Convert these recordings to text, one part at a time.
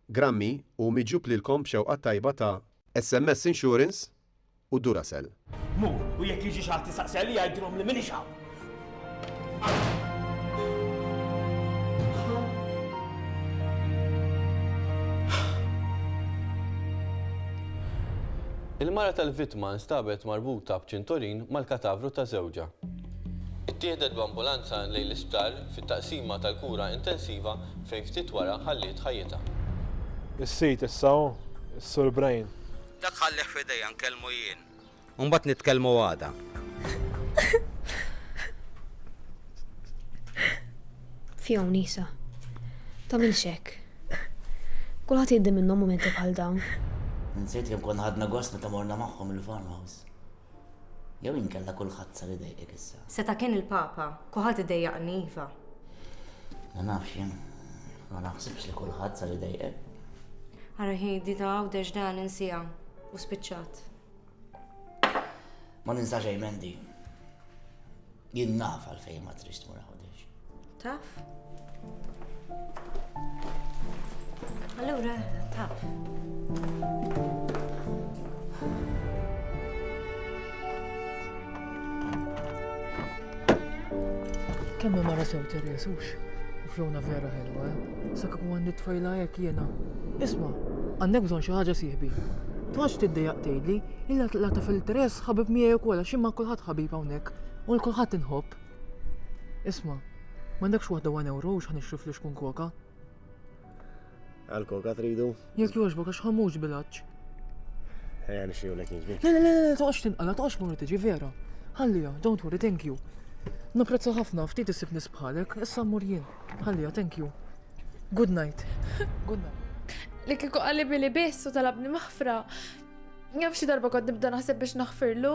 Grammy u miġjub lilkom b'xewqa t-tajba ta' SMS Insurance u Duracell. Mur, u jekk jiġi xi ħadd isaqsi għalija għidilhom li m'iniex hawn. Il-mara tal-vittma nstabet marbuta b'ċinturin mal-katavru ta' żewġha. Ittieħdet b'ambulanza lejn l-isptar fit-taqsima tal-kura intensiva fejn ftit wara ħalliet ħajjitha. Is-sid issa hu s-Sur Brian. Dak ħallih f'idejja nkellmu jien. U mbagħad nitkellmu għada. Fi hawn Isa. Tagħmilx hekk. Kulħadd jgħaddi minnhom mumenti bħal dawn. Insejt kemm konna ħadna gost meta morna magħhom il-farmhouse. Jew inkella kulħadd sar idejqek issa? Seta' kien il-Papa, kulħadd idejjaqni iva. Ma nafx jien, ma naħsibx li kulħadd sar idejqek. Ara hi di ta' għawdex dan insija u spiċċat. Ma ninsa xejn Mendi. Jien naf għalfejn ma trix tmur Għawdex. Taf? Allura, taf. Kemm ma mara sew terjesux? Flona vera ħelwa, eh? sa kieku għandi tfajla jekk jiena. Isma, għandek bżonn xi ħaġa sieħbi. Twax tiddejaq tgħidli, illa la taf il-tres ħabib miegħi wkoll għax imma kulħadd ħabib hawnhekk. nħobbok. U lil kulħadd inħobb. Isma', m'għandekx waħda one euro u x'ħanixtri flus kun koka? Għal-koka tridu? Jekk jogħġbok għax ħammux bilaċ. Ejja nixtri lek jiġbi. Le, le, le, le, toqgħodx tinqala, toqgħodx morru tiġi vera. Ħallija, don't worry, thank you. Napprezza ħafna, ftit isib nisbħalek, issa mmur jien. Ħallija, thank you. Good night. Good night. Li kiku għalli billi biss u talabni maħfra. Jaf xi darba kont nibda naħseb biex naħfirlu.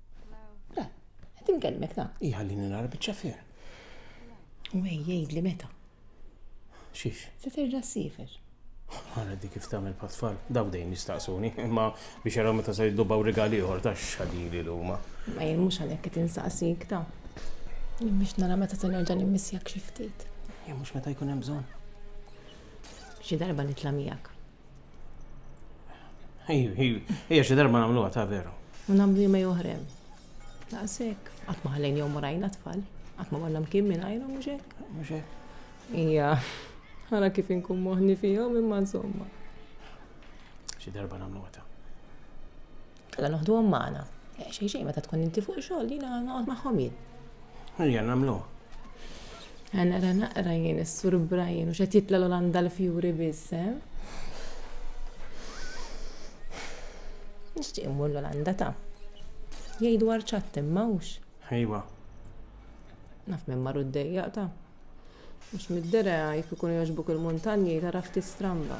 Le, qed inkellmek ta. Iħallini nara biċ-ċafier. U ej jgħidli meta. Xiex? Se terġa' ssifer. Għana dik kif tagħmel patfall, daw dejjem jistaqsuni, imma biex jaraw meta se jiddubaw rigali ieħor ta' xadili l-huma. Ma jien mhux għalhekk qed insaqsik ta. Jien biex nara meta se nerġa' nimmissjak xi ftit. Jien mhux meta jkun hemm bżonn. Xi darba nitla' miegħek. Ija xi darba nagħmluha ta' veru. U nagħmlu jumej oħrem. Daqshekk, qatt ma ħallejn jew morajna tfal, qatt ma morna mkien minn għajru mhux hekk. Mhux hekk. Ija, ħara kif inkun moħni fihom imma insomma. Xi darba nagħmluha ta'. Alla noħduhom magħna. Eh, xejn xejn meta tkun inti fuq xogħol jiena noqgħod magħhom jien. Ejja nagħmlu. Għanna ra naqra jien is-sur Brian u xed jitla l-Olanda l-fjuri biss, eh? Nixtieq immur l-Olanda ta' jgħidu arċat imma hux. Ejwa. Naf minn marru d-dejja ta' mhux mid-dera jkun jogħġbuk il-muntanji taraf tistramba.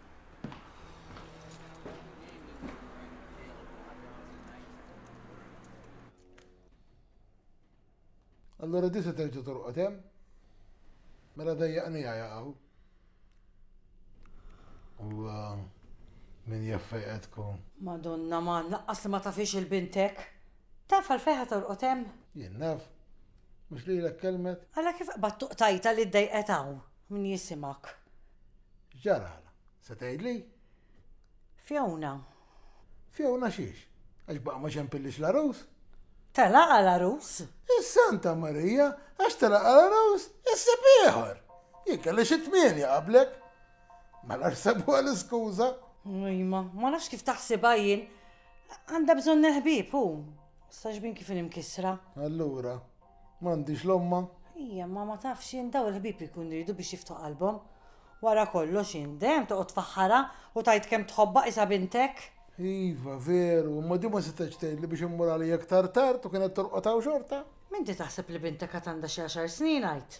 Allura di se terġa' torqod hemm? Mela dejjaqni jaqgħu. U uh, min jaffejqetku. Madonna man, laqqas li ma tafix il-bintek. Taf għal fejħa torqod hemm? Jien naf. Mhux li kelmet. Alla kif qbad tuqtajta li ddejqet hawn. Min jisimgħek? X'ġaralha? Se tgħidli? Fiona. Fiona xiex? Għax baqa' ma xempillix l-għarus? Telaqha l-għarus? Is-Santa Marija, għax telaqha l-għarus, issib ieħor! Jien kelli xi tmienja qablek. Mela x'sebuha l-iskuża? Ujma, ma nafx kif taħsibha jien. Għandha bżonn il-ħbieb hu. Sax bin kif inkisra. Allura, M'għandix l-ommha? Ija, ma ma tafx int daw il-ħbieb ikunu jridu biex jiftħu qalbhom. Wara kollox int dejjem toqgħod tfaħħarha u tgħid kemm tħobbha qisha bintek. Iva, veru, imma din ma setgħetx tgħidli biex immur għalija iktar tard u kienet torqod hawn xorta. M'inti taħseb li bintek għad għandha xi għaxar snin għid?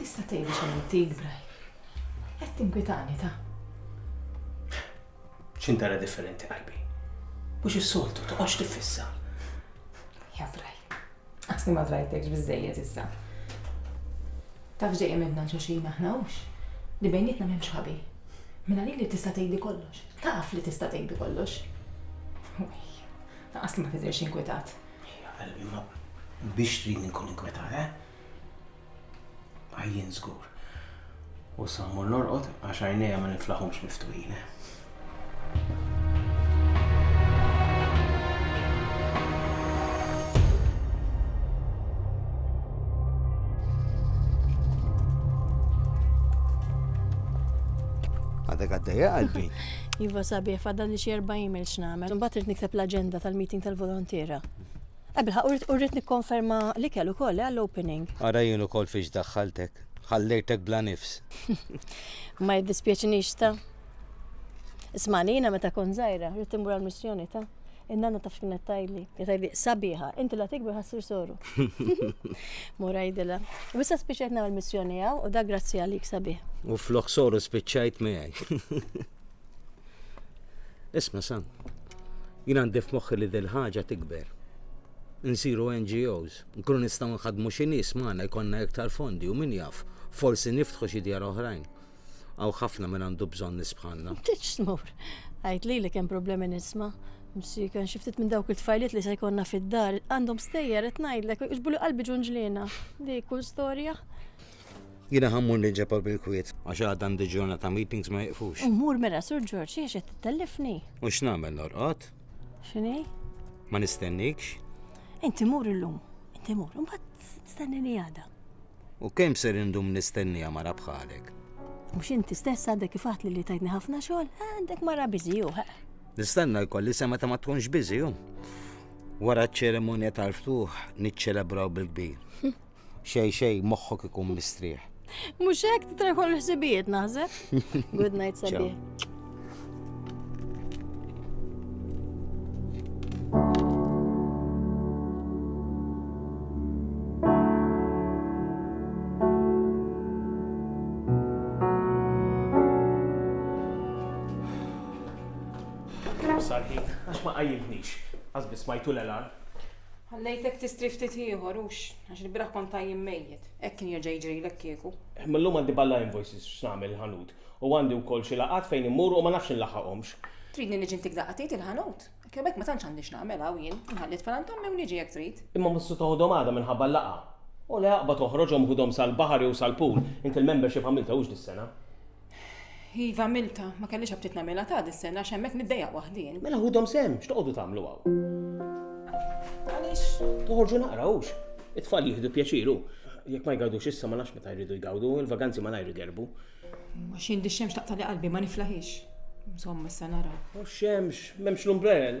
Tista' tgħid xejn Bray. Qed tinkwitani ta' xintara differenti qalbi. Mhux is-soltu toqgħodx tiffissa. Jabraj, Aħsni ma drajtekx biżżejjed issa. Taf dejjem għedna l-xulxin aħna hux li bejnietna m'hemmx ħabi. Mela li li tista' tgħidi kollox. Taf li tista' tgħidi kollox. Laqas li ma tidhirx inkwetat. Qalbi ma biex trid nkun inkwetat, eh? Għajjien żgur. U sa mmur norqod għax għajnejja ma niflaħhomx miftuħin. Għadek għaddeja qalbi. Iva sabiħ, fadal li xie 40 mil xnamel. Mbagħad irid nikteb l-aġenda tal-meeting tal-volontiera. Eh bilħaq u rrid nikkonferma l-ikel ukoll eh, għall-opening. Ara jien ukoll fiex daħħaltek. Ħallejtek bla nifs. Ma jiddispjaċinix ta. Ismani jiena meta kont żgħira, rrid immur għall-missjoni ta. In-nanna taf x'kienet tajli. Tajli sabiħa, inti la tikber ħassir soru. Mura jidila. U issa spiċċajt nagħmel missjoni hawn u da grazzi għalik sabiħ. U flok soru spiċċajt miegħi. Isma' Sam, jien għandi f'moħħi li dil ħaġa tikber. Nsiru NGOs, nkunu nistgħu nħadmu xi nies magħna jkollna iktar fondi u min jaf, forsi niftħu xi djar oħrajn. Għaw ħafna min għandu bżonn nies bħalna. Tiġ tmur. Għid li li kemm problemi nisma'. Msi kan xi ftit minn dawk it-tfajliet li se jkollna fid-dar għandhom stejjer qed ngħidlek iġbulu qalbi ġunġliena. Dik kull storja. Jiena ħa mmur nil-Ġebel bil-kwiet. Għax għad għandi ġurnata meetings ma jiqfux. Immur mela Sur Ġorġ għax qed tittellifni. U x'nagħmel norqod? X'inhi? Ma nistennikx. Inti mur illum. Inti mur. Imbagħad stennini għada. U kemm ser indum nistennija mara bħalek? Mhux inti stess għadek kif għatli li tajtni ħafna xogħol, għandek mara biżiju. Nistenna jkolli sema ta' ma tkunx biżiju. Wara ċ-ċeremonja tal-ftuħ niċċelebraw bil-kbir. Xej xej, moħħok ikun mistrieħ. Mhux hekk titrajħu l-ħsibijiet naħseb. Good night sabiħ. Sarħin, għax ma qajjimtnix, għazbis ma jtul elan. Ħallejtek tistri ftit ieħor, hux? Għax il-bieraħ kont tajjin mejjet. Hekk kien jerġa' jiġrilek kieku. Mil-lum għandi balla invoices x'nagħmel il-ħanut. U għandi wkoll xi laqgħat fejn immur u ma nafx inlaħħaqhomx. Tridni niġi ntik daqqatit il-ħanut? Hekk jew hekk ma tantx għandi x'nagħmel hawn jien. Inħalli t-tfal għand ommi u niġi jekk trid. Imma mhux se toħodhom għada minħabba l-laqgħa? Ole aqbad oħroġhom ħudhom sal-baħar jew sal-pool. Int il-membership għamilta hux dis-sena? Iva milta, ma kellix aptit nagħmilha ta' dis-sena għax hemmhekk niddejjaq waħdin. Mela ħudhom sem, x'toqgħodu tagħmlu hawn? Għaliex? Toħorġu naqra hux. It-tfal jieħdu pjaċiru. Jekk ma jgawdux issa ma nafx meta jridu jgawdu, il-vaganzi ma najru gerbu. Ma xi di xemx taqtali qalbi ma niflaħix. Insomma, issa nara. U xemx, m'hemmx l-umbrell.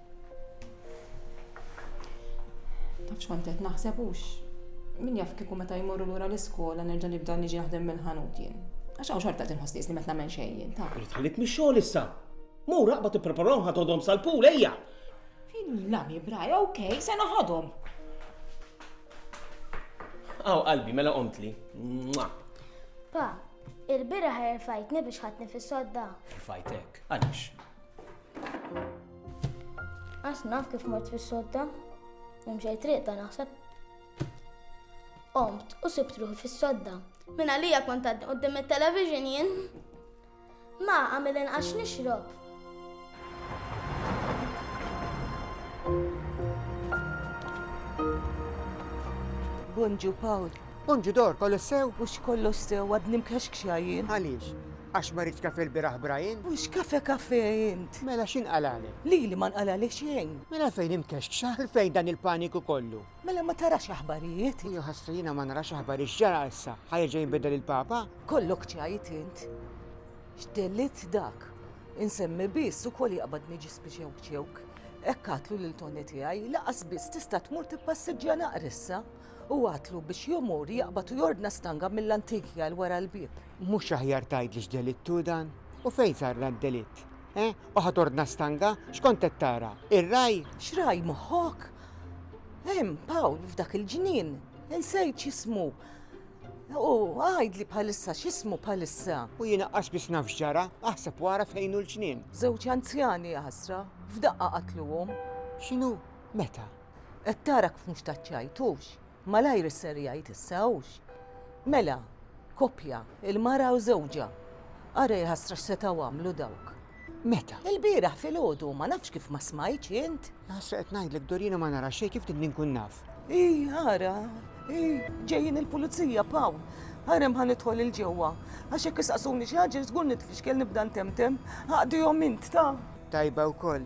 Tafx kont qed naħseb hux. Min jaf kieku meta jmorru lura l-iskola nerġa' nibda niġi naħdem mill-ħanut jien. Għax hawn xorta tinħoss li meta nagħmel xejn jien ta'. Irid ħallik mix-xogħol issa. Mur raqba tippreparahom ħadhom sal-pool ejja. Fil-lami braj, okej, se naħadhom. Aw qalbi mela qomtli. Pa, il-bira ħerfajtni biex ħatni fis-sodda. Ħerfajtek, għaliex? Għas naf kif mort fis-sodda, imxej triq ta' naħseb. Omt u sibt ruħi fis-sodda. Min għalija kont għaddi qoddim il-television jien. Ma għamil inqax nixrob. Bonġu Paul, Unġi dor, kollox sew? Hux kollox sew, għadni mkexkxa jien. Għaliex? Għax maridt kafe lbieraħ Brian? Hux kafe kafe int? Mela x'inqalagħlek? Lili ma nqalagħli xejn. Mela għalfejn imkexkxa? Għalfejn dan il-paniku kollu? Mela ma tarax aħbarijiet? Ejja ħasra jiena ma narax aħbarijiet x'ġara issa? Ħa jerġa' jinbidel il-Papa? Kollok tgħid int. X'delitt dak? Insemmi biss ukoll jaqbad niġi spiċewkċewk. Hekk għadtlu lil Toni tiegħi, lanqas biss tista' tmur tippassiġġja naqra issa. U għatlu biex jomur jaqbad u jordna stanga mill-antikja l wara l-bieb. Mhux aħjar tgħidli x'delitt hu dan? U fejn sar dan id-delitt? Eh? U ħa tordna stanga? X'kont qed tara? Ir-ragħaj? X'ragħaj moħħok? Hemm, Pawl, f'dak il-ġnien. Insejt x'ismu. U għidli bħalissa x'ismu bħalissa. U jiena qas biss naf x'ġara, aħseb wara fejn hu l-ġnien. Żewġ anzjani ħasra, f'daqqa qatluhom. X'inhu? Meta? Qed tara kif mhux taċċajtux? Malajr isser jgħid issa hux. Mela, koppja, il-mara u żewġha. Ara jahasra x'setgħu għamlu dawk. Meta? Ilbieraħ filgħodu, ma nafx kif ma smajtx int. Jahasra qed ngħidlek Dorian u ma nara xejn kif din inkun naf. Ih, ara, ih, ġejjin il-pulizija, Pawl. Ara hemm ħa nidħol 'il ġewwa. Għax jekk isaqsuni xi ħaġa żgur nitfixkel nibda ntemtem. Aqdihom int, ta. Tajba wkoll.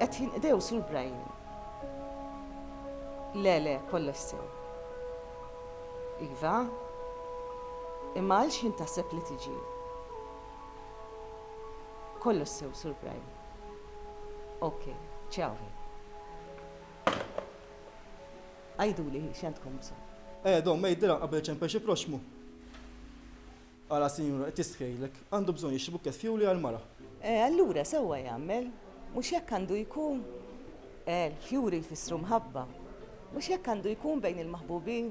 Qed jinqdew sur Brian. Le, le, kollox sew. Iva, imma għal xin taseb li tiġi. Kollox sew sur Brian. Ok, ciao. Għajdu li xentkom bżon. Eh, don, ma jiddira qabel ċempel xi proxmu. Ara sinjura qed tistħejlek. Għandu bżonn jixtri bukkett fjuri għall-mara. Eh, allura sewwa jagħmel. Mhux hekk għandu jkun? Eh, l-fjuri jfissru mħabba. Mhux hekk għandu jkun bejn il-maħbubin?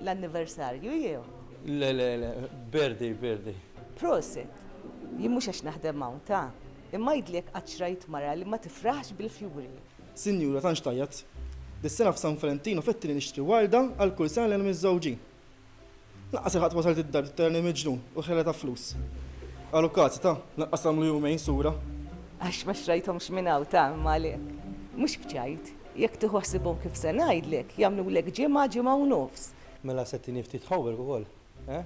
L-anniversarju jew? Le, le, le, birthday, birthday. Proset! Jien mhux għax naħdem hawn, ta! Imma għidli jekk qattx rajt mara li ma tifraħx bil-fjuri. Sinjura, tantx tgħajjat. Dis-sena f'San Valentinu fettilni nixtri warda għal kull sena lejn miż-żewġin. Lanqas il-ħadd wasalt id-dar tittenni miġnun u ħela ta' flus. Qalu kazz, ta, lanqas għamlu jumejn sura. Għax ma xtrajthomx minn hawn, ta, imma għalhekk. Mhux b'ċajt. Jekk tieħu ħsiebhom kif se ngħidlek, jagħmlulek ġimgħa, ġimgħa u nofs. Mela se tini ftit homework ukoll, eh?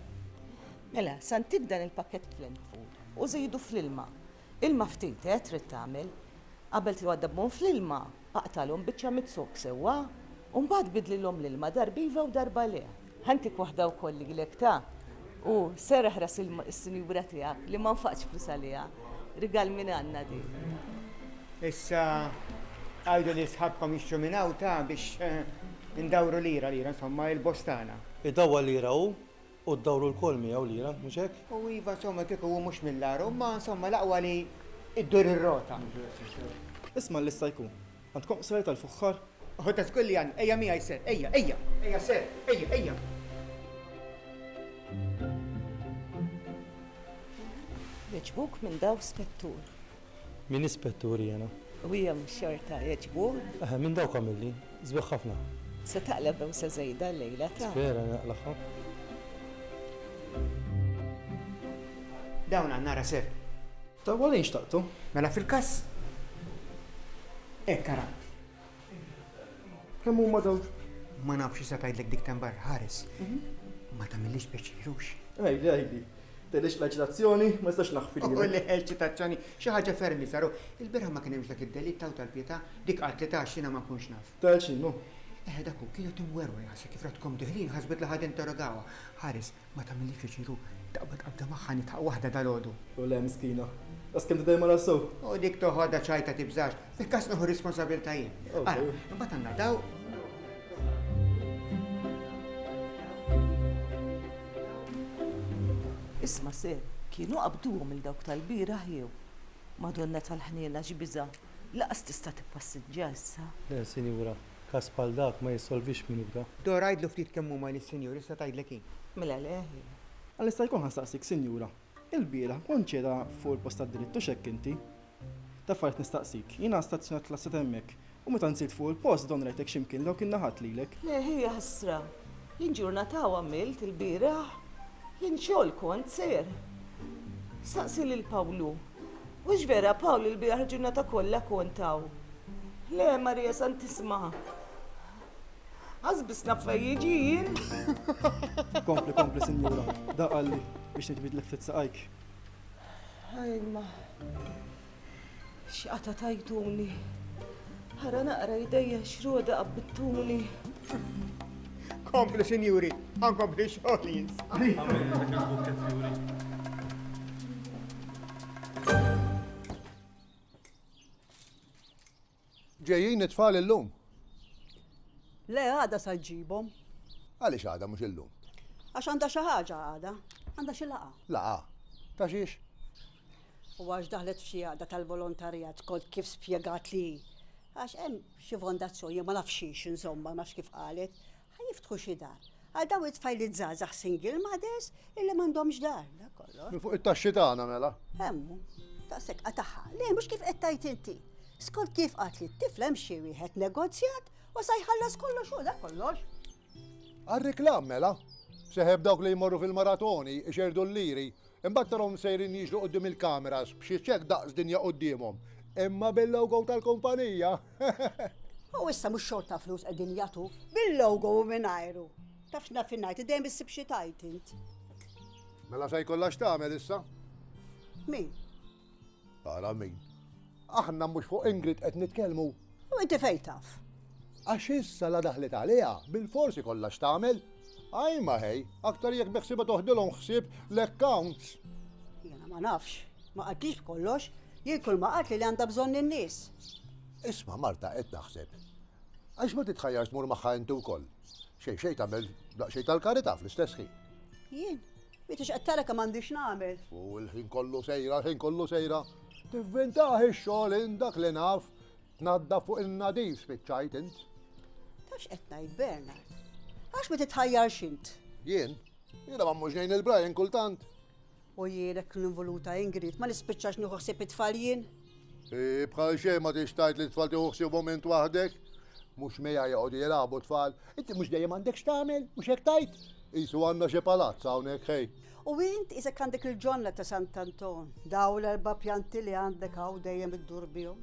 Mela, se ntik dan il-pakkett fl-end food u żidu fl-ilma. Ilma ftit, eh, trid tagħmel. Qabel tgħadda b'mon fl-ilma, aqtalhom biċċa mid-zokk sewwa, u mbagħad bidlilhom l-ilma darba iva u darba le. Ħa ntik waħda wkoll lilek, ta! U serraħ ras is-sinjura tiegħek li ma nfaqtx flus għaliha. Rigal minn Anna din. Issa għidu lil sħabkom jixtru minn hawn, ta, biex indawru lira lira, insomma, il-bostana. Idawwal lira hu, U ddawru lkoll miegħu lira, mhux hekk? U iva, insomma, kieku hu mhux mill-agħar, u ma, insomma, l-aqwa li ddur ir-rota. Isma' lil Sajku. Għandkom qsajr tal-fuħħar? Ħu ta' żgur li għandna. Ejja miegħi, Sir. Ejja, ejja! Ejja, Sir. Ejja, ejja! Jogħġbuk minn daw, Spettur. Min hi Spettur jiena? U hija x-xorta jogħġbuh? Eħe, minn dawk għamilli. Sbieħ ħafna. Se taqla' b'ewsa żejda llejla, tara. Spera li naqlagħha. Dawn għandna ara sew. Tawwal għaliex xtaqtu? Mela fil-każ hekk ara. Kemm huma dawn? Ma nafx issa tgħidlek dik temm barra ħares. Mhm. Ma tagħmilix peċirux. Għajdi, għajdi. Tedix l-eċitazzjoni, ma jistax naħfil. U l-eċitazzjoni, xi ħaġa fermi saru. Il-bira ma kien hemmx dak id-delit taw tal-pieta, dik qatt li tax jiena ma nkunx naf. Tal xinu? Eh, dak hu kienu timwerwer ħasek kif ratkom diħlin ħasbet li ħad interrogawa. Ħares, Ma tagħmilniex pjaċir u taqbad qabda magħha nidħaq waħda dalgħodu. Jew le, miskina. Daqs kemm tidher mara sew. U dik toħodha ċajta tibżax. Fil-każ nieħu r-responsabilità jien. Ara, imbagħad għandna daw. Isma' sew, kienu qabduhom lil dawk tal-bieraħ jew? Madonna tal-ħniena x'biża'! Lanqas tista' tippassiġġja issa. Le, sinjura. Każ bħal dak ma jissolvix minn ura. Dora, għidlu ftit kemm huma li s-Sinjur issa tgħidlek hi. Mela le, hi. Għal jista' jkun ħansaqsik, Sinjura, ilbieraħ kont qiegħda fuq il-post tad-dritt u x'hekk inti? Ta' affarijiet nistaqsik. Jiena stazzjonat l-asset hemmhekk u meta nżilt fuq il-post don rajtek xi mkien dawk in-naħat lilek. Le, hi, jaħsra. Jien ġurnata u għamilt ilbieraħ li nxogħol kont ser. Staqsi lil Pawlu. Hux vera Pawl li l-bieraħ il-ġurnata kollha kont hawn? Le, Marija Santissima. Għazbis naf fej jiġi jien. Kompli, kompli, sinjura. Da qalli biex nġbid l ftit saqajk. Ajma. X'qata tajtuni. Ara naqra jdejja xroda qabbittuli. Kompli sinjuri, għankompli xogħol jins. Ġejjin it-tfal illum? Le għada sa ġibhom. Għaliex għada mhux illum? Għax għandha xi ħaġa għada, għandha xi laqa. Laqa? Ta' xiex? u għax daħlet f'xi għaqda tal-volontarjat kont kif spjegat li hi. Għax hemm xi fondazzjoni, ma nafx xiex insomma, ma nafx kif qalet, ħa jiftħu xi dar. Għal daw it-tfajliet żgħażagħ single mothers illi m'għandhomx dar, dak kollox. Minn fuq it-taxxi tagħna mela. Hemmu, daqshekk qataħħa. Le, mhux kif qed tgħid inti. Skont kif qatt li t-tifla hemm xi wieħed negozjat u sa jħallas kollox u dak kollox. Għar-reklam mela. Seħeb dawk li jmorru fil-maratoni, ixerdu l-liri, Imbagħad tarahom sejrin jiġru quddiem il-kameras b'xi check daqs dinja quddiemhom. Imma bil-logo tal-kumpanija! U issa mhux xorta flus qegħdin jagħtu? Bil-logo u mingħajru! Taf x'naf jien ngħid, dejjem issib xi tajt int. Mela se jkollha x'tagħmel issa? Min? Ara min. Aħna mhux fuq Ingrid qed nitkellmu. U inti fejn taf? Għax issa la daħlet għaliha, bil-forsi kollha x'tagħmel. Għaj ma ħej, aktar jekk beħsiba toħdilhom ħsieb l-accounts. Jena ma nafx, ma qattix b'kollox, jien kull ma qatt li għandha bżonn in-nies. Isma' Marta qed naħseb. Għax ma titħajjarx tmur magħha inti wkoll. Xejn xejn tagħmel daqsxejn tal-karità fl-istess ħin. Jien? Mitx qed tara kemm għandi x'nagħmel? U l-ħin kollu sejra, l-ħin kollu sejra. Tivvintaħ ix-xogħol int dak li naf, tnaddaf fuq in-nadif spiċċajt int. Ta' x'qed ngħid Bernard? Għax ma titħajjarx int? Jien? Jiena ma mhux ngħin il-Brian kultant. U jien hekk involuta Ingrid, ma nispiċċax nieħu ħsieb it-tfal jien? Bħal xejn ma tix tgħid li tfal tieħu ħsiebhom int waħdek. Mhux mija joqogħdu jilagħbu tfal. Inti mhux dejjem għandek x'tagħmel, mhux hekk tajt? Isu għandna xi palazz hawnhekk ħej. U int isek għandek il-ġonna ta' Sant'Anton, daw l-erba' pjanti li għandek hawn dejjem iddur bihom.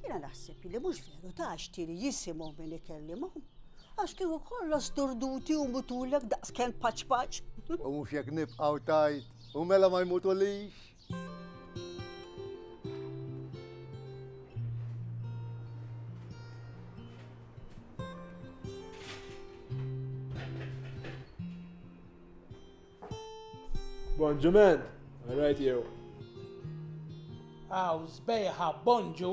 Jiena naħseb li mhux veru ta' xtiri jisimhom min ikellimhom. Għax kieku kollox sturduti u mutulek daqskemm paċ paċ. U mhux jekk nibqgħu tajt, u mela ma jmutulix. Bonġu man! Alright you. Aw, zbejħa, bonġu!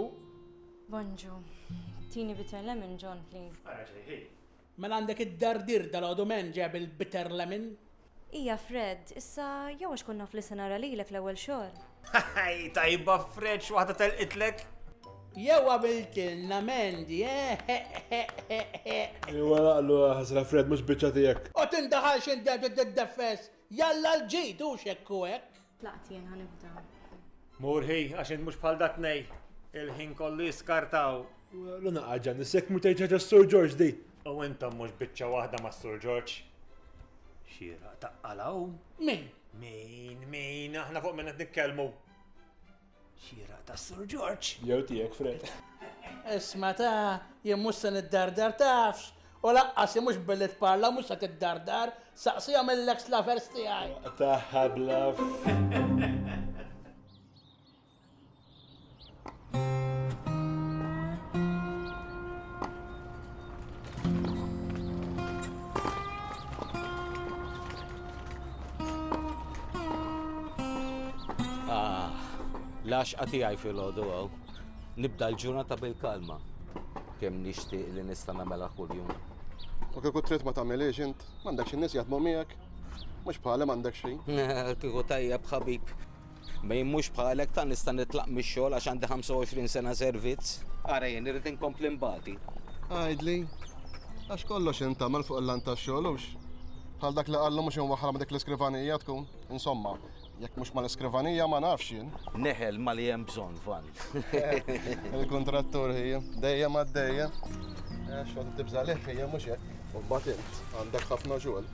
Bonġu. Tini bitter lemon, John, please. Għara ġejħi. Mela għandek id-dardir dalgħodu man ġab il-bitter lemon? Hija Fred, issa jew għax kont naf li se nara lilek l-ewwel xogħol. Hi tajba Fred x'waħda telqitlek! Jew għamiltilna Mandy, eh eħ eħ eħ eħ! Iwa naqlu ħasra Fred mhux biċċa tiegħek. Għot indaħalx int dejjem trid tiddefess! Jalla l-ġid hux hekk u hekk! Tlaqt jien ħanibda. Murħi, għax int mhux bħal dat nej, il-ħin kollu jiskartaw. Luna għagġa nisek mu tgħid ħaġa s-Sur George di. U intom mhux biċċa waħda ma' Sur George. Xira taqqalaw. Min? Min, min, aħna fuq minn qed nitkellmu. Xieraq ta' Sur George. Jew tiegħek Fred. Isma' ta, jien mhux se niddardar tafx, u laqqas jien mhux billi tparla mhux se tiddardar, saqsihom il-ex lovers tiegħi. Tagħha bluff. Lax għati għaj fil-ħodu għaw. Nibda l-ġurnata bil-kalma. Kem nishti li nista namela kull-jum. U kiku trit ma tamel int, mandek xin nis jadmu miegħek. Mux bħalem mandek xejn. Kiku tajjeb ħabib. Ma jien mhux bħalek tant nista' nitlaq mix-xogħol għax għandi 25 sena servizz. Ara jien irrid inkompli nbati. Għidli, għax kollox jintagħmel fuq il-lan tax-xogħol hux? Bħal dak li qallu mhux inwaħħalha ma' dik l-iskrivanija tkun. Insomma, jekk mhux mal-iskrivanija ma nafx jien. Neħel mali hemm bżonn, Van. Il-kontrattur hija, dejjem għaddejja. Eh, Xogħol tibża leh hija mhux hekk. U mbagħad int għandek ħafna xogħol.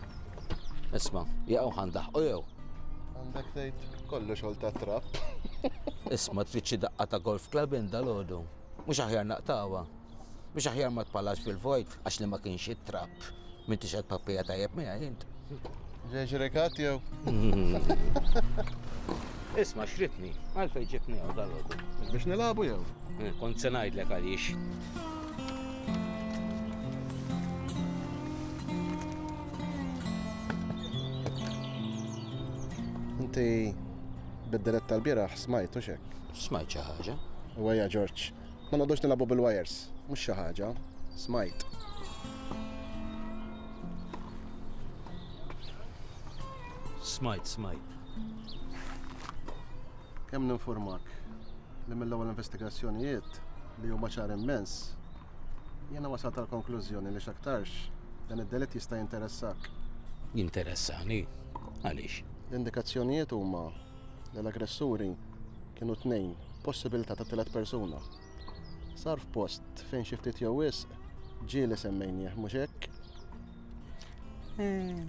Isma, jaqgħu ħandaħ u jew. Għandek tgħid kollu xogħol ta' trapp. Isma tfittxi daqqa ta' golf club inda l-għodu. Mhux aħjar naqtawa. Biex aħjar ma tpallax fil-vojt, għax li ma kienx it-trab, minn tixed pappija tajjeb minn jint. Ġeġ rekat jew? Isma xritni, għalfej ġibni għaw dal Biex nilabu jew? Eh, kont se ngħidlek għaliex. Inti bid-dirett tal-bieraħ smajt u xek? Smajt xi ħaġa. U għajja Ġorġ. Ma noqgħodux nilagħbu bil-wires, mhux xi ħaġa. Smajt. Smajt, smajt. Kemm ninfurmak li mill-ewwel investigazzjonijiet li huma ċar immens, jiena wasal tal-konklużjoni li x'aktarx dan id-delitt jista' jinteressak. Jinteressani? Għaliex? L-indikazzjonijiet huma li l-aggressuri kienu tnejn, possibilità ta' tielet persuna. Sar f'post fejn xi ftit jew wisq ġieli semmejnieh mhux hekk? Eh,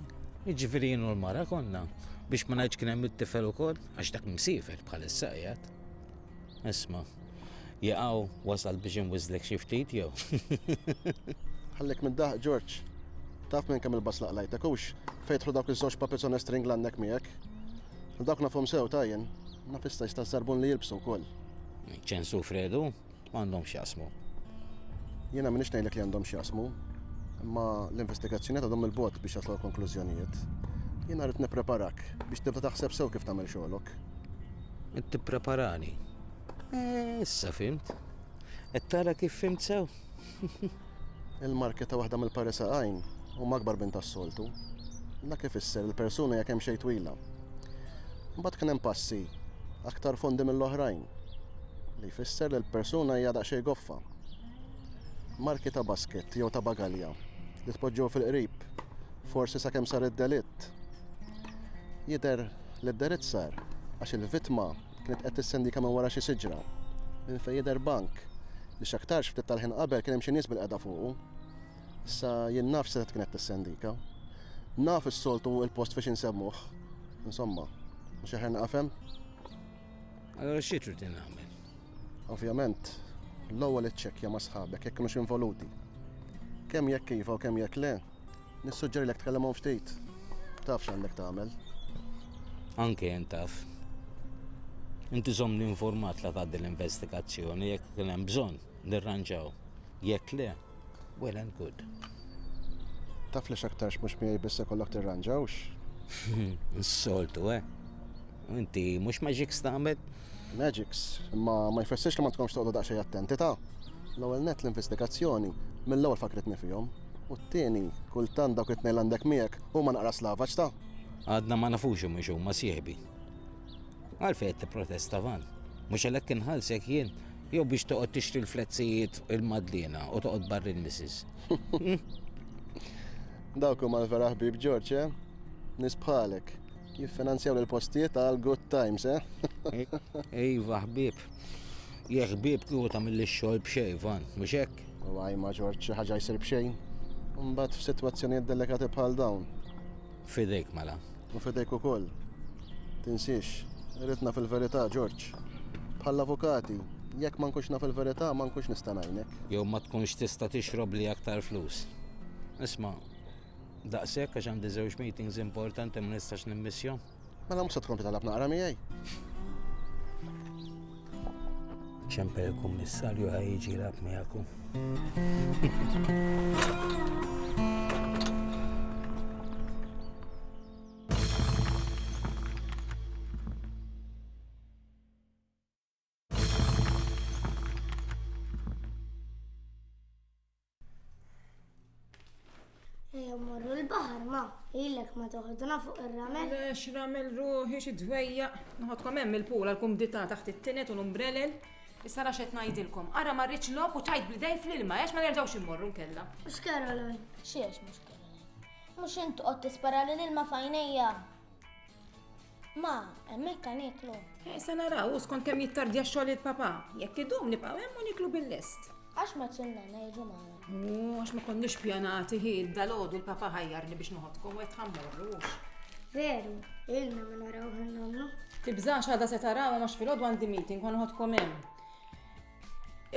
jiġifieri jienu l-mara konna biex ma ngħidx kien hemm it-tifel ukoll għax dak msifer bħalissa qiegħed. Isma, jaqaw wasal biex inwiżlek xi ftit jew? Ħallek minn daħq Ġorġ. Taf minn kemm il-bass laqlajtek hux fejtħlu dawk iż-żewġ papezzone string l-għandek miegħek. Dawk nafhom sew tajjen, naf issa jista' żarbun li jilbsu wkoll. Ċensu Fredu, m'għandhom x'jasmu. Jiena minix ngħidlek li għandhom x'jasmu, imma l-investigazzjoni għadhom il-bot biex jaslu konklużjonijiet. Jiena rrid nippreparak biex tibda taħseb sew kif tagħmel xogħolok. Qed tippreparani. Eh, issa fimt. Qed tara kif fimt sew? Il-market ta' waħda mill-parisa għajn u magbar bint tas-soltu. Da kif isser il-persuna jekk hemm xejn twila. Mbagħad kien hemm passi aktar fondi mill-oħrajn li jfisser li l-persuna hija daqsxejn goffa. Marki ta' basket jew ta' bagalja li tpoġġew fil-qrib, forsi sakemm sar id-delitt. Jidher li d-delitt sar għax il-vittma kienet qed tissendika minn wara xi siġra, minn fejn jidher bank li x'aktarx ftit tal-ħin qabel kien hemm xi nies bilqiegħda fuqu. Issa jien naf x'setgħet kienet tissendika. Naf is-soltu il-post fiex insemmuh. Insomma, mhux aħjar naqafem? Allora xi trid nagħmel? Ovvjament, l-ewwel iċċekkja ma' sħabek jekk kienux involuti. Kemm jekk iva u kemm jekk le, Nissuġġerilek tkellimhom ftit. Taf x'għandek tagħmel. Anke jien taf. Inti żomm informat la tgħaddi l-investigazzjoni jekk kien hemm bżonn nirranġaw. Jekk le, well and good. Taf li x'aktarx mhux miegħi biss ikollok tirranġawx. Soltu, eh? Inti mhux maġik stamel? Magics, imma ma jfissirx li ma tkomx toqgħodu daqsxejn attenti ta'. L-ewwel nett l-investigazzjoni mill-ewwel fakkritni fihom, u t-tieni, kultant dawk it-tnejn li għandek miegħek huma naqra slavaġ ta'. Għadna ma nafux jekk mhux huma sieħbi. Għalfejn qed tipprotesta Van? Mhux għalhekk inħallsek jien? Jew biex toqgħod tixtri l-flezzijiet u l-Madliena u toqgħod barr il-missis? Dawk huma l-vera ħbieb George, eh? Nies bħalek. Jiffinanzjaw l-postijiet għal good times, eh? Iva, ħbib. Jek ħbib kieku ta' mill xogħol b'xejn, van, mhux hekk? U għaj ma ġorġ xi ħaġa jsir b'xejn. Mbagħad f'sitwazzjonijiet delikati bħal dawn. Fidejk mela. U fidejk ukoll. Tinsiex, ritna fil-verità, Ġorġ. Bħall-avukati, jekk ma nkunx naf il-verità ma nkunx nista' ngħinek. Jew ma tkunx tista' tixrob li aktar flus. Isma', Daqshekk għax għandi żewġ meetings importanti ma nistax nimmissjhom. Mela mhux se tkompli talab naqra miegħi. Ċempel il-kummissarju ħaj jiġi lab miegħekom. Ejja morru l-baħar ma, ilek ma toħodna fuq ir-ramel. Lex ramel ruħi xi dwejja. Nħodkom hemm il-pula l-kumdità taħt it-tinet u l-umbrelel. Issa rax qed ngħidilkom. Ara ma rridx lok u tajt bl-idej fl-ilma għax ma nerġgħux immorru nkella. Mhux Caroline. Xiex mhux Caroline. Mhux int qod tispara lil ilma fajnejja. Ma, hemmhekk għan iklu. Eh, se naraw, u skont kemm jittardja xogħol il-papa. Jekk idum nibqgħu hemm u niklu bil-lest. Għax ma tsinnana jiġu magħna. U għax ma konniex pjanati hi, dal-għodu l-papa ħajjarni biex noħodkom u qed ħammorru. Veru, ilna ma naraw ħannomlu. Tibżax għada se taraw għax fil-għodu għandi meeting għan ħodkom hemm.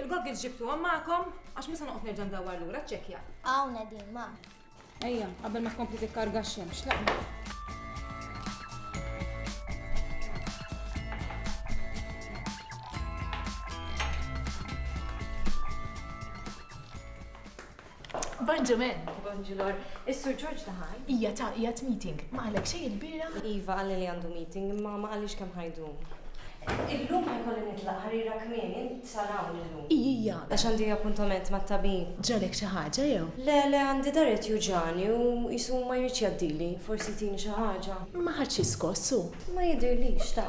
Il-goggles ġibtu għammakom, għax misa noqgħod nerġa' ndawar lura ċekja. Hawn din ma. Ejja, qabel ma tkompli tikkarga x-xemx, laqma. Bonġu men. Bonġu lor. Is-Sur George taħal? Ija ta' ija meeting. Ma għalek xej il-bira? Iva għalli li għandu meeting, imma ma għalix kem ħajdum. Illum ħajkolli nitlaq ħarira kmini, Sar hawn illum. Ijija, għax għandi appuntament mat-tabib. Ġralek xi ħaġa jew? Le, le, għandi dahri qed juġagħni u qisu ma jridx jgħaddili. Forsi jtini xi ħaġa. Ma ħa xi skoss hu? Ma jidhirlix, ta.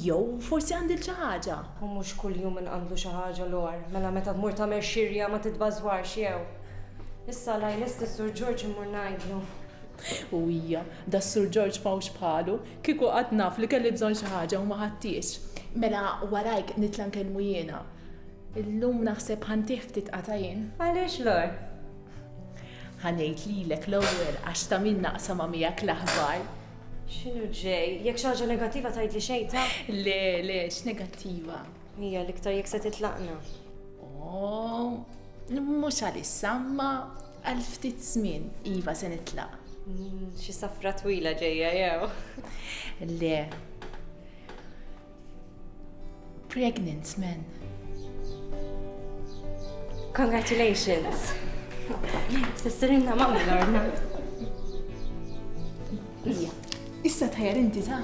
Jew forsi għandil xi ħaġa. Hu mhux kuljum inqandlu xi ħaġa l-għor. Mela meta tmur tagħmel xirja ma titbażwarx jew. Issa la jlest is-Sur Ġorġ immur ngħidlu. U ija, das-Sur Ġorġ m'hawnx bħalu. Kieku qatt naf li kelli bżonn xi ħaġa u ma ħadthiex. Mela warajk nitla' nkellmu jiena. Illum naħseb ħa ntih ftit qatajn. Għaliex Lore? Ħa ngħid lilek l-ewwel għax ta' min naqsamha miegħek l-aħbar. X'inhu ġej? Jekk xi ħaġa negattiva tgħidli xejn ta'. Le, le, x'negattiva? Hija l-iktar jekk se titlaqna. Oh, mhux għalissa, imma Għal ftit żmien, iva se nitlaq. Xi safra twila ġejja jew? Le. Pregnant man. Congratulations. Sissirinna mamma l-orna. Issa tħajar inti ta'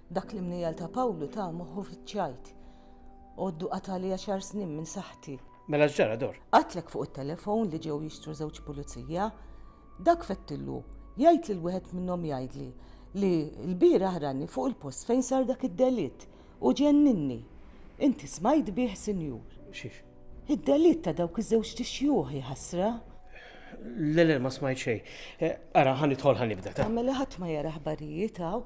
Dak l-imnejjal ta' Pawlu ta' moħħu fiċ-ċajt. Għoddu qatali għaxar snin minn saħħti. Mela x'ġara Dor? Qatlek fuq it-telefon li ġew jixtru żewġ pulizija. Dak fettillu jgħid lil wieħed minnhom jgħidli li lbieraħ rani fuq il-post fejn sar dak id-delitt u ġenninni. Inti smajt bih sinjur? Xiex? Id-delitt ta' dawk iż-żewġt ixjuħ, jaħasra. Le, le, ma smajt xejn. Eh, ara, ħa nidħol ħa nibda ta'. Mela ħadd ma jara ħbarijiet hawn.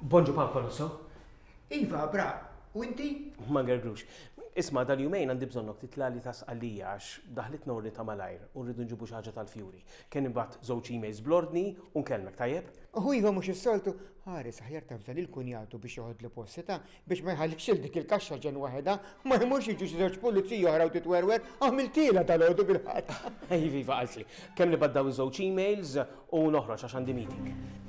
Bonġu Papa Russo. Iva, bra, u inti? Ma gerglux. Isma, dal-jumejn għandi bżonnok titlali ta' sqallija għax daħlit norni ta' malajr u rridu nġibu xaġa tal-fjuri. Kien ibat żewġ emails blordni u nkellmek tajjeb? Uhu iva mhux is-soltu, ħares aħjar ta' fdan il-kunjatu biex joħodlu post seta' Biex ma jħallix lil dik il-kaxxa ġenn waħedha, ma jmurx jiġu xi żewġ puliziji oħra u titwerwer, għamiltielha dalgħodu bil-ħadd. Iva, iva, qaltli. Kemm nibgħat dawn iż-żewġ emails u noħroġ għax għandi meeting.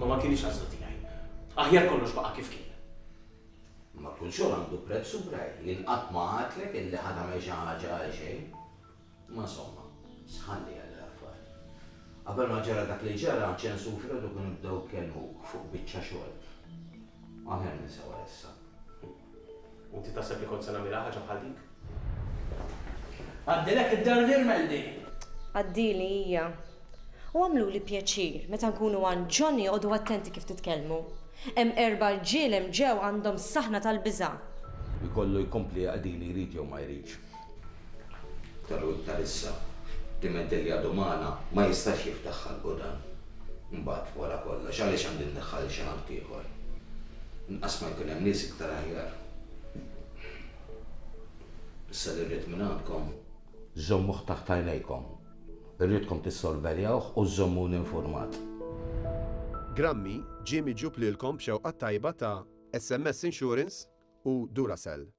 Imma ma kinitx għażla tiegħi. Aħjar kollox baqa' kif kien. Imma kull xogħol għandu prezz, Subraj. Jien qatt ma għadtlek illi ħa tagħmel xi ħaġa għal xejn. Imma insomma, sħanli għal l-affar. Qabel ma ġara dak li ġara, Ċensu u Fredu kienu bdew ikellmuk fuq biċċa xogħol. Aħjar ninsewa issa. U inti taħseb li kont se nagħmilha ħaġa bħal dik? Għaddilek id-dar li rmendi! Għaddili hija. U għamluli pjaċir, meta nkunu għand John joqogħdu attenti kif titkellmu. Hemm erba' rġiel hemm ġew għandhom saħna tal-biża'. Ikollu jkompli għaddili jrid jew ma jridx. Ta' Lhud ta' issa. Diment illi għadu magħna, ma jistax jiftaħ ħalqu dan. Imbagħad, wara kollox, għaliex għandi nneħħa lil xi ħaddieħor? Inqas ma jkun hemm nies iktar aħjar. Issa li rrid mingħandkom. Żommuh taħt għajnejkom. Irridkom tissorveljawh u żżommuni infurmat. Grammy ġie miġjub lilkom b'xewqat tajba ta' SMS Insurance u Duracell.